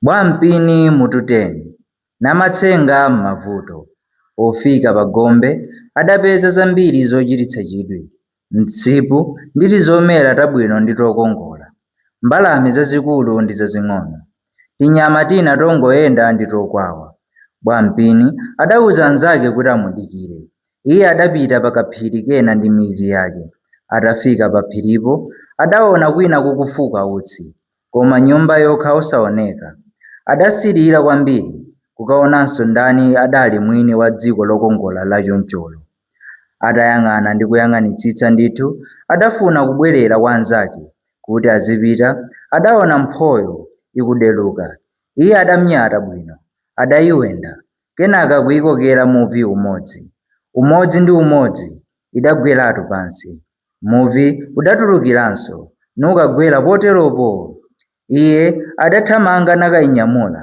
Bwampini mutu 10 Namatsenga m'mavuto Pofika pa gombe adapeza zambiri zochititsa chidwi, msipu ndi tizomera tabwino ndi tokongola, mbalame zazikulu ndi zazing'ono, tinyama tina tongoyenda ndi tokwawa. Bwampini adauza anzake kuti amudikire. Iye adapita pa kaphiri kena ndi mivi yake. Atafika paphiripo, adaona kwina kukufuka utsi. koma nyumba yokha osaoneka. Adasilira kwambiri kukaonanso ndani adali mwini wa dziko lokongola lachoncholo. Atayang'ana ndi kuyang'anitsitsa ndithu, adafuna kubwerera kwa anzake kuti azipita, adaona mphoyo ikudeluka. Iye adanyata bwino, adaiwenda, kenaka kuikokera muvi umodzi. Umodzi ndi umodzi idagweratu pansi. Muvi udatulukiranso, nukagwera poteropo. Iye adathamanga nakainyamula.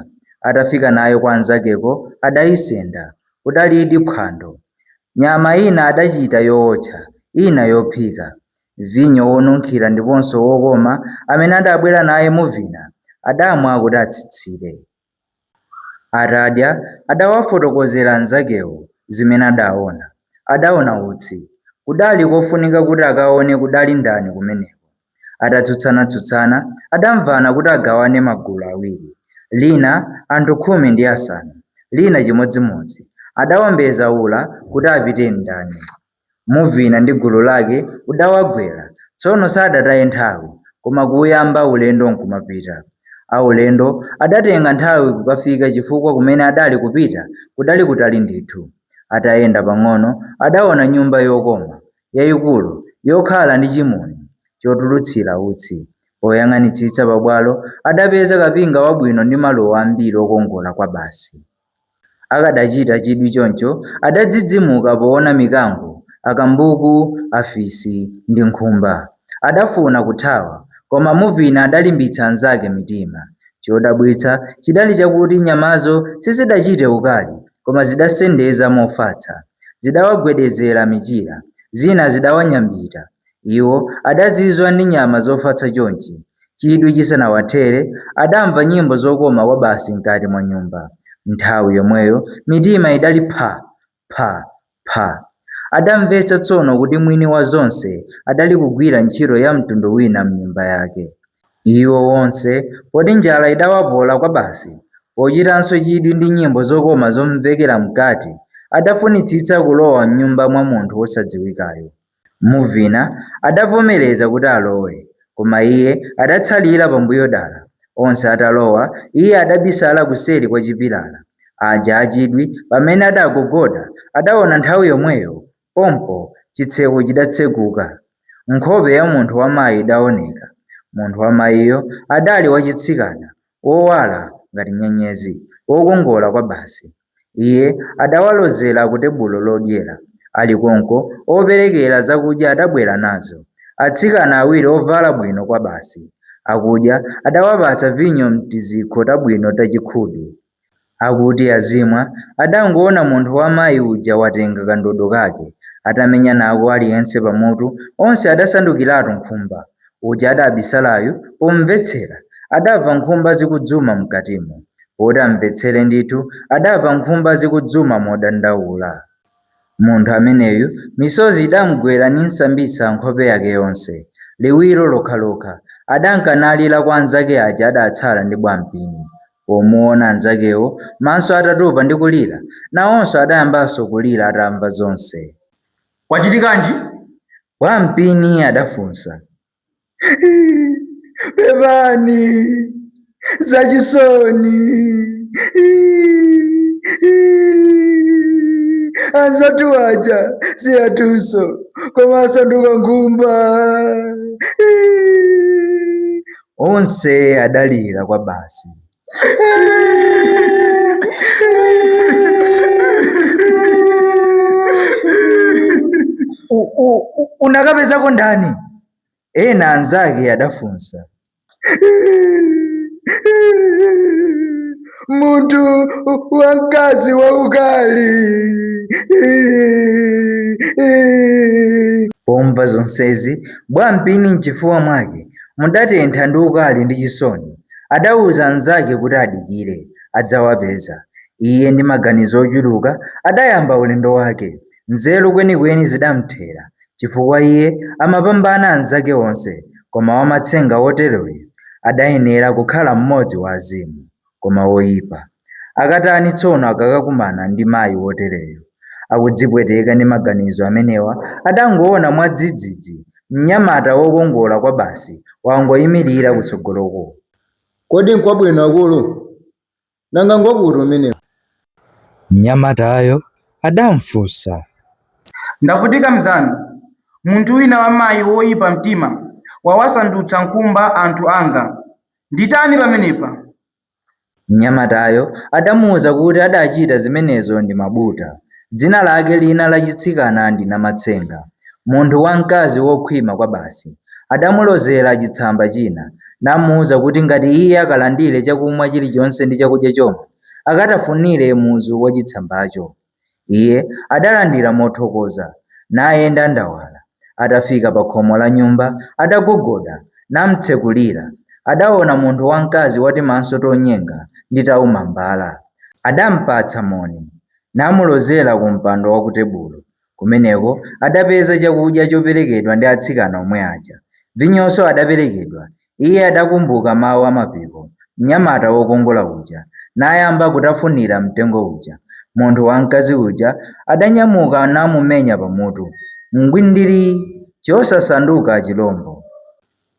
Atafika nayo kwa anzakeko, adaisenda. Kudalidi phwando. Nyama ina adachita yootcha, ina yophika. Vinyo wonunkhira ndiponso wokoma amene adabwera naye Muvina adamwa kuti atsitsire. Atadya, adawafotokozera anzakewo zimene adaona. Adaona utsi. Kudali kofunika kuti akaone kudali ndani kumeneko. Atatsutsana-tsutsana, adamvana kuti agawane magulu awiri. Lina, anthu khumi ndi asanu, lina chimodzimodzi. Adaombeza ula kuti apite ndani. Muvina ndi gulu lake udawagwera, tsono sadataye nthawi, koma kuyamba ulendo nkumapita. Aulendo adatenga nthawi kukafika chifukwa kumene adali kupita kudali kutali ndithu. Atayenda pang'ono adaona nyumba yokoma, yaikulu, yokhala ndi chimuni chotulutsira utsi. Poyang'anitsitsa pabwalo adapeza kapinga wabwino ndi maluwa ambiri okongola kwabasi. Akadachita chidwi choncho, adadzidzimuka poona mikango, akambuku, afisi, ndi nkhumba. Adafuna kuthawa, koma Muvina adalimbitsa anzake mitima. Chodabwitsa chidali chakuti nyamazo sizidachite ukali, koma zidasendeza mofatsa. Zidawagwedezera michira, zina zidawanyambita, Iwo adazizwa ndi nyama zofatsa chonchi. Chidwi chisanawathere, adamva nyimbo zokoma kwabasi mkati mwa nyumba. Nthawi yomweyo mitima idali pha! pha! pha! Adamvetsa tsono kuti mwini wa zonse adali kugwira ntchito ya mtundu wina m'nyumba yake. Iwo onse, poti njala idawapola kwabasi, pochitanso chidwi ndi nyimbo zokoma zomvekera mkati, adafunitsitsa kulowa m'nyumba mwa munthu wosadziwikayo. Mvina adavomereza kuti alowe, koma iye adatsalira pambuyo dala. Onse atalowa, iye adabisala kuseri kwa chipilala. Aja a chidwi, pamene adagogoda, adaona nthawi yomweyo, pompo, chitseko chidatseguka. Nkhope ya munthu wa mayi idaoneka. Munthu wa mayiyo adali wachitsikana, wowala ngati nyenyezi, wokongola kwabasi. Iye adawalozera ku tebulo lodyera. Ali konko, operekera zakudya adabwera nazo, atsikana awiri ovala bwino kwabasi. Akudya, adawapatsa vinyo m'tizikho tabwino tachikhudu. Akuti azimwa, adangoona munthu wa mayi uja watenga kandodo kake, atamenya nako aliyense pamutu, onse adasandukiratu nkhumba. Uja adabisalayu pomvetsera adamva nkhumba zikudzuma m'katimo. Poti amvetsere ndithu adamva nkhumba zikudzuma modandaula. Munthu ameneyu misozi idamgwera nimsambitsa nkhope yake yonse, liwiro lokhalokha adanka nalira kwa anzake aja adatsala ndi Bwampini. Pomuona anzakewo maso atatupa ndi kulira, nawonso adayambanso kulira atamva zonse. Kwachitikanji? Bwampini adafunsa. Iii, pepani, zachisoni. Iii, iii, anzathu aja si anthunso koma asanduka nkhumba. Iii. Onse adalira kwabasi. U- u- u- unakapezako ndani ena anzake adafunsa munthu wa mkazi waukali pomva zonsezi bwampini mchifuwa mwake mudatentha ndi ukali ndi chisoni Adauza anzake kuti adikire, adzawapeza. Iye ndi maganizo ochuluka adayamba ulendo wake. Nzeru kwenikweni zidamthera chifukwa iye amapambana anzake onse koma wamatsenga woteroyo adayenera kukhala mmodzi wa azimu, koma woipa. Akatani tsono akakakumana ndi mayi wotereyo? Akudzipweteka ndi maganizo amenewa, adangoona mwadzidzidzi mnyamata wokongola kwabasi wangoimirira kutsogoloko. Kodi nkwabwino akulu? Nanga ngwakuti umenewu? mnyamatayo adamfunsa. Ndavutika mnzanu. Munthu wina wamayi woipa mtima wawasandutsa nkhumba anthu anga. Nditani pamenepa? Mnyamatayo adamuuza kuti adachita zimenezo ndi Mabuta, dzina lake lina lachitsikana ndi Namatsenga, munthu wamkazi wokhwima kwabasi. Adamulozera chitsamba china namuuza kuti ngati iye akalandire chakumwa chilichonse ndi chakudya chomwe, akatafunire muzu wachitsambacho. Iye adalandira mothokoza, nayenda ndawala. Atafika pa khomo la nyumba, adagogoda, namtsekulira. Adaona munthu wamkazi watimaso tonyenga ndi taumambala. Adampatsa moni, namulozera ku mpando wa ku tebulo. Kumeneko adapeza chakudya choperekedwa ndi atsikana omwe aja. Vinyonso adaperekedwa, Iye adakumbuka mawu a Mapiko, mnyamata wokongola uja, nayamba kutafunira mtengo uja. Munthu wamkazi uja adanyamuka namumenya pamutu. Ngwindiri! Chosasanduka chilombo.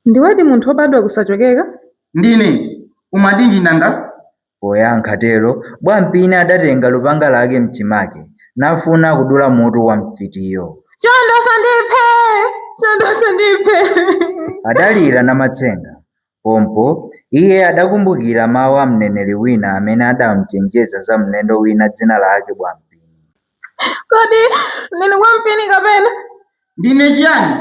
Ndiwedi munthu wobadwa kusachokeka? Ndine! Umatinji nanga? Poyankha tero, Bwampini adatenga lupanga lake m'chimake nafuna kudula mutu wa mfitiyo. Chonde usandiphe! Chonde usandiphe! adalira Namatsenga. Pompo, iye adakumbukira mawu a mneneri wina amene adamchenjeza za mlendo wina dzina lake Bwampini. Kodi ndinu Bwampini kapena? Ndine chiyani?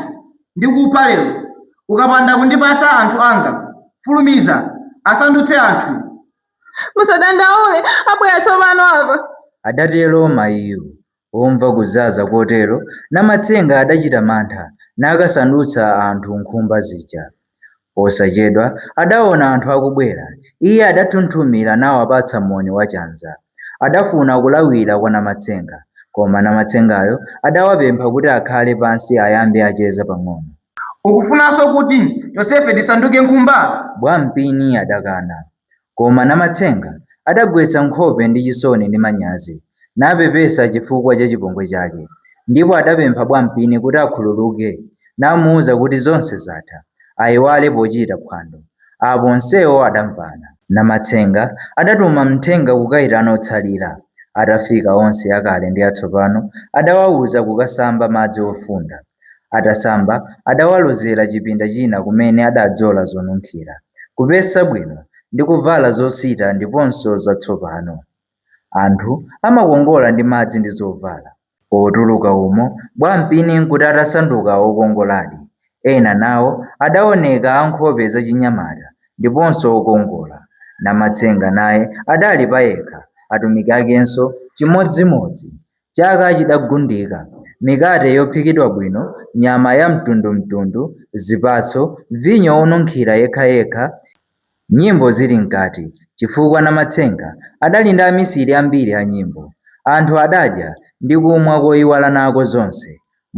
Ndikupha lero ukapanda kundipatsa anthu anga. Fulumiza, asandutse anthu. Musadandaule, abwera tsopano apa. adatero mayiyo. Pomva kuzaza kotero, Namatsenga adachita mantha, nakasandutsa anthu nkhumba zija. Posachedwa, adaona anthu akubwera. Iye adathunthumira nawapatsa moni wachanza. Adafuna kulawira kwa Namatsenga, koma Namatsengayo adawapempha kuti akhale pansi ayambe acheza pang'ono. Ukufunanso kuti tonsefe tisanduke nkhumba? Bwampini adakana. Koma Namatsenga adagwetsa nkhope ndi chisoni ndi manyazi, napepesa chifukwa cha chipongwe chake, ndipo adapempha Bwampini kuti akhululuke namuuza kuti zonse zatha, aiwale pochita phwando. Apo onsewo adamvana. Namatsenga adatuma mthenga kukaitana otsalira. Atafika onse akale ndi atsopano adawauza kukasamba madzi ofunda. Atasamba, adawalozera chipinda china kumene adadzola zonunkhira, kupesa bwino ndi kuvala zosita ndiponso zatsopano. Anthu amakongola ndi madzi ndi zovala. Potuluka umo, Bwampini nkuti atasanduka wokongoladi. Ena nawo adaoneka a nkhope zachinyamata ndiponso okongola. Namatsenga naye adali payekha, atumiki akenso chimodzimodzi. Chaka chidagundika, mikate yophikidwa bwino, nyama ya mtundu mtundu, zipatso, vinyo wonunkhira yekha yekha, nyimbo zili mkati chifukwa Namatsenga adali ndi amisiri ambiri a nyimbo. Anthu adadya ndi kumwa koiwala nako zonse.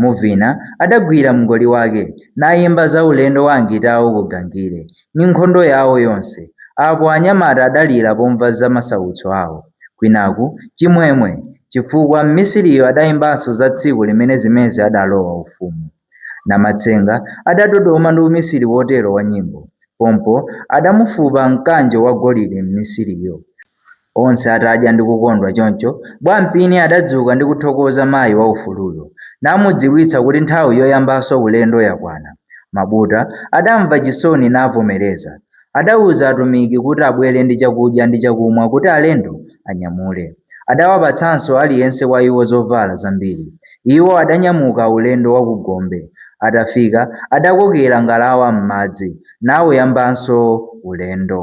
Muvina adagwira mngoli wake nayimba za ulendo wa Angitawo ku Gangire ndi nkhondo yawo yonse. Apo anyamata adalira pomva za masautso awo, kwinaku chimwemwe chifukwa mmisiriyo adayimbanso za tsiku limene Zimezi adalowa ufumu. Namatsenga adadodoma ndi umisiri wotero wa nyimbo. Pompo adamufupa mkanjo wa golide mmisiriyo. Onse atadya ndi kukondwa choncho, Bwampini adadzuka ndi kuthokoza mayi wa ufuluyo, namudziwitsa kuti nthawi yoyambanso ulendo yakwana. Mabuta adamva chisoni navomereza. Adauza atumiki kuti abwere ndi chakudya ndi chakumwa kuti alendo anyamule. Adawapatsanso aliyense wa iwo zovala zambiri. Iwo adanyamuka ulendo wa ku gombe. Atafika adakokera ngalawa m'madzi nauyambanso ulendo.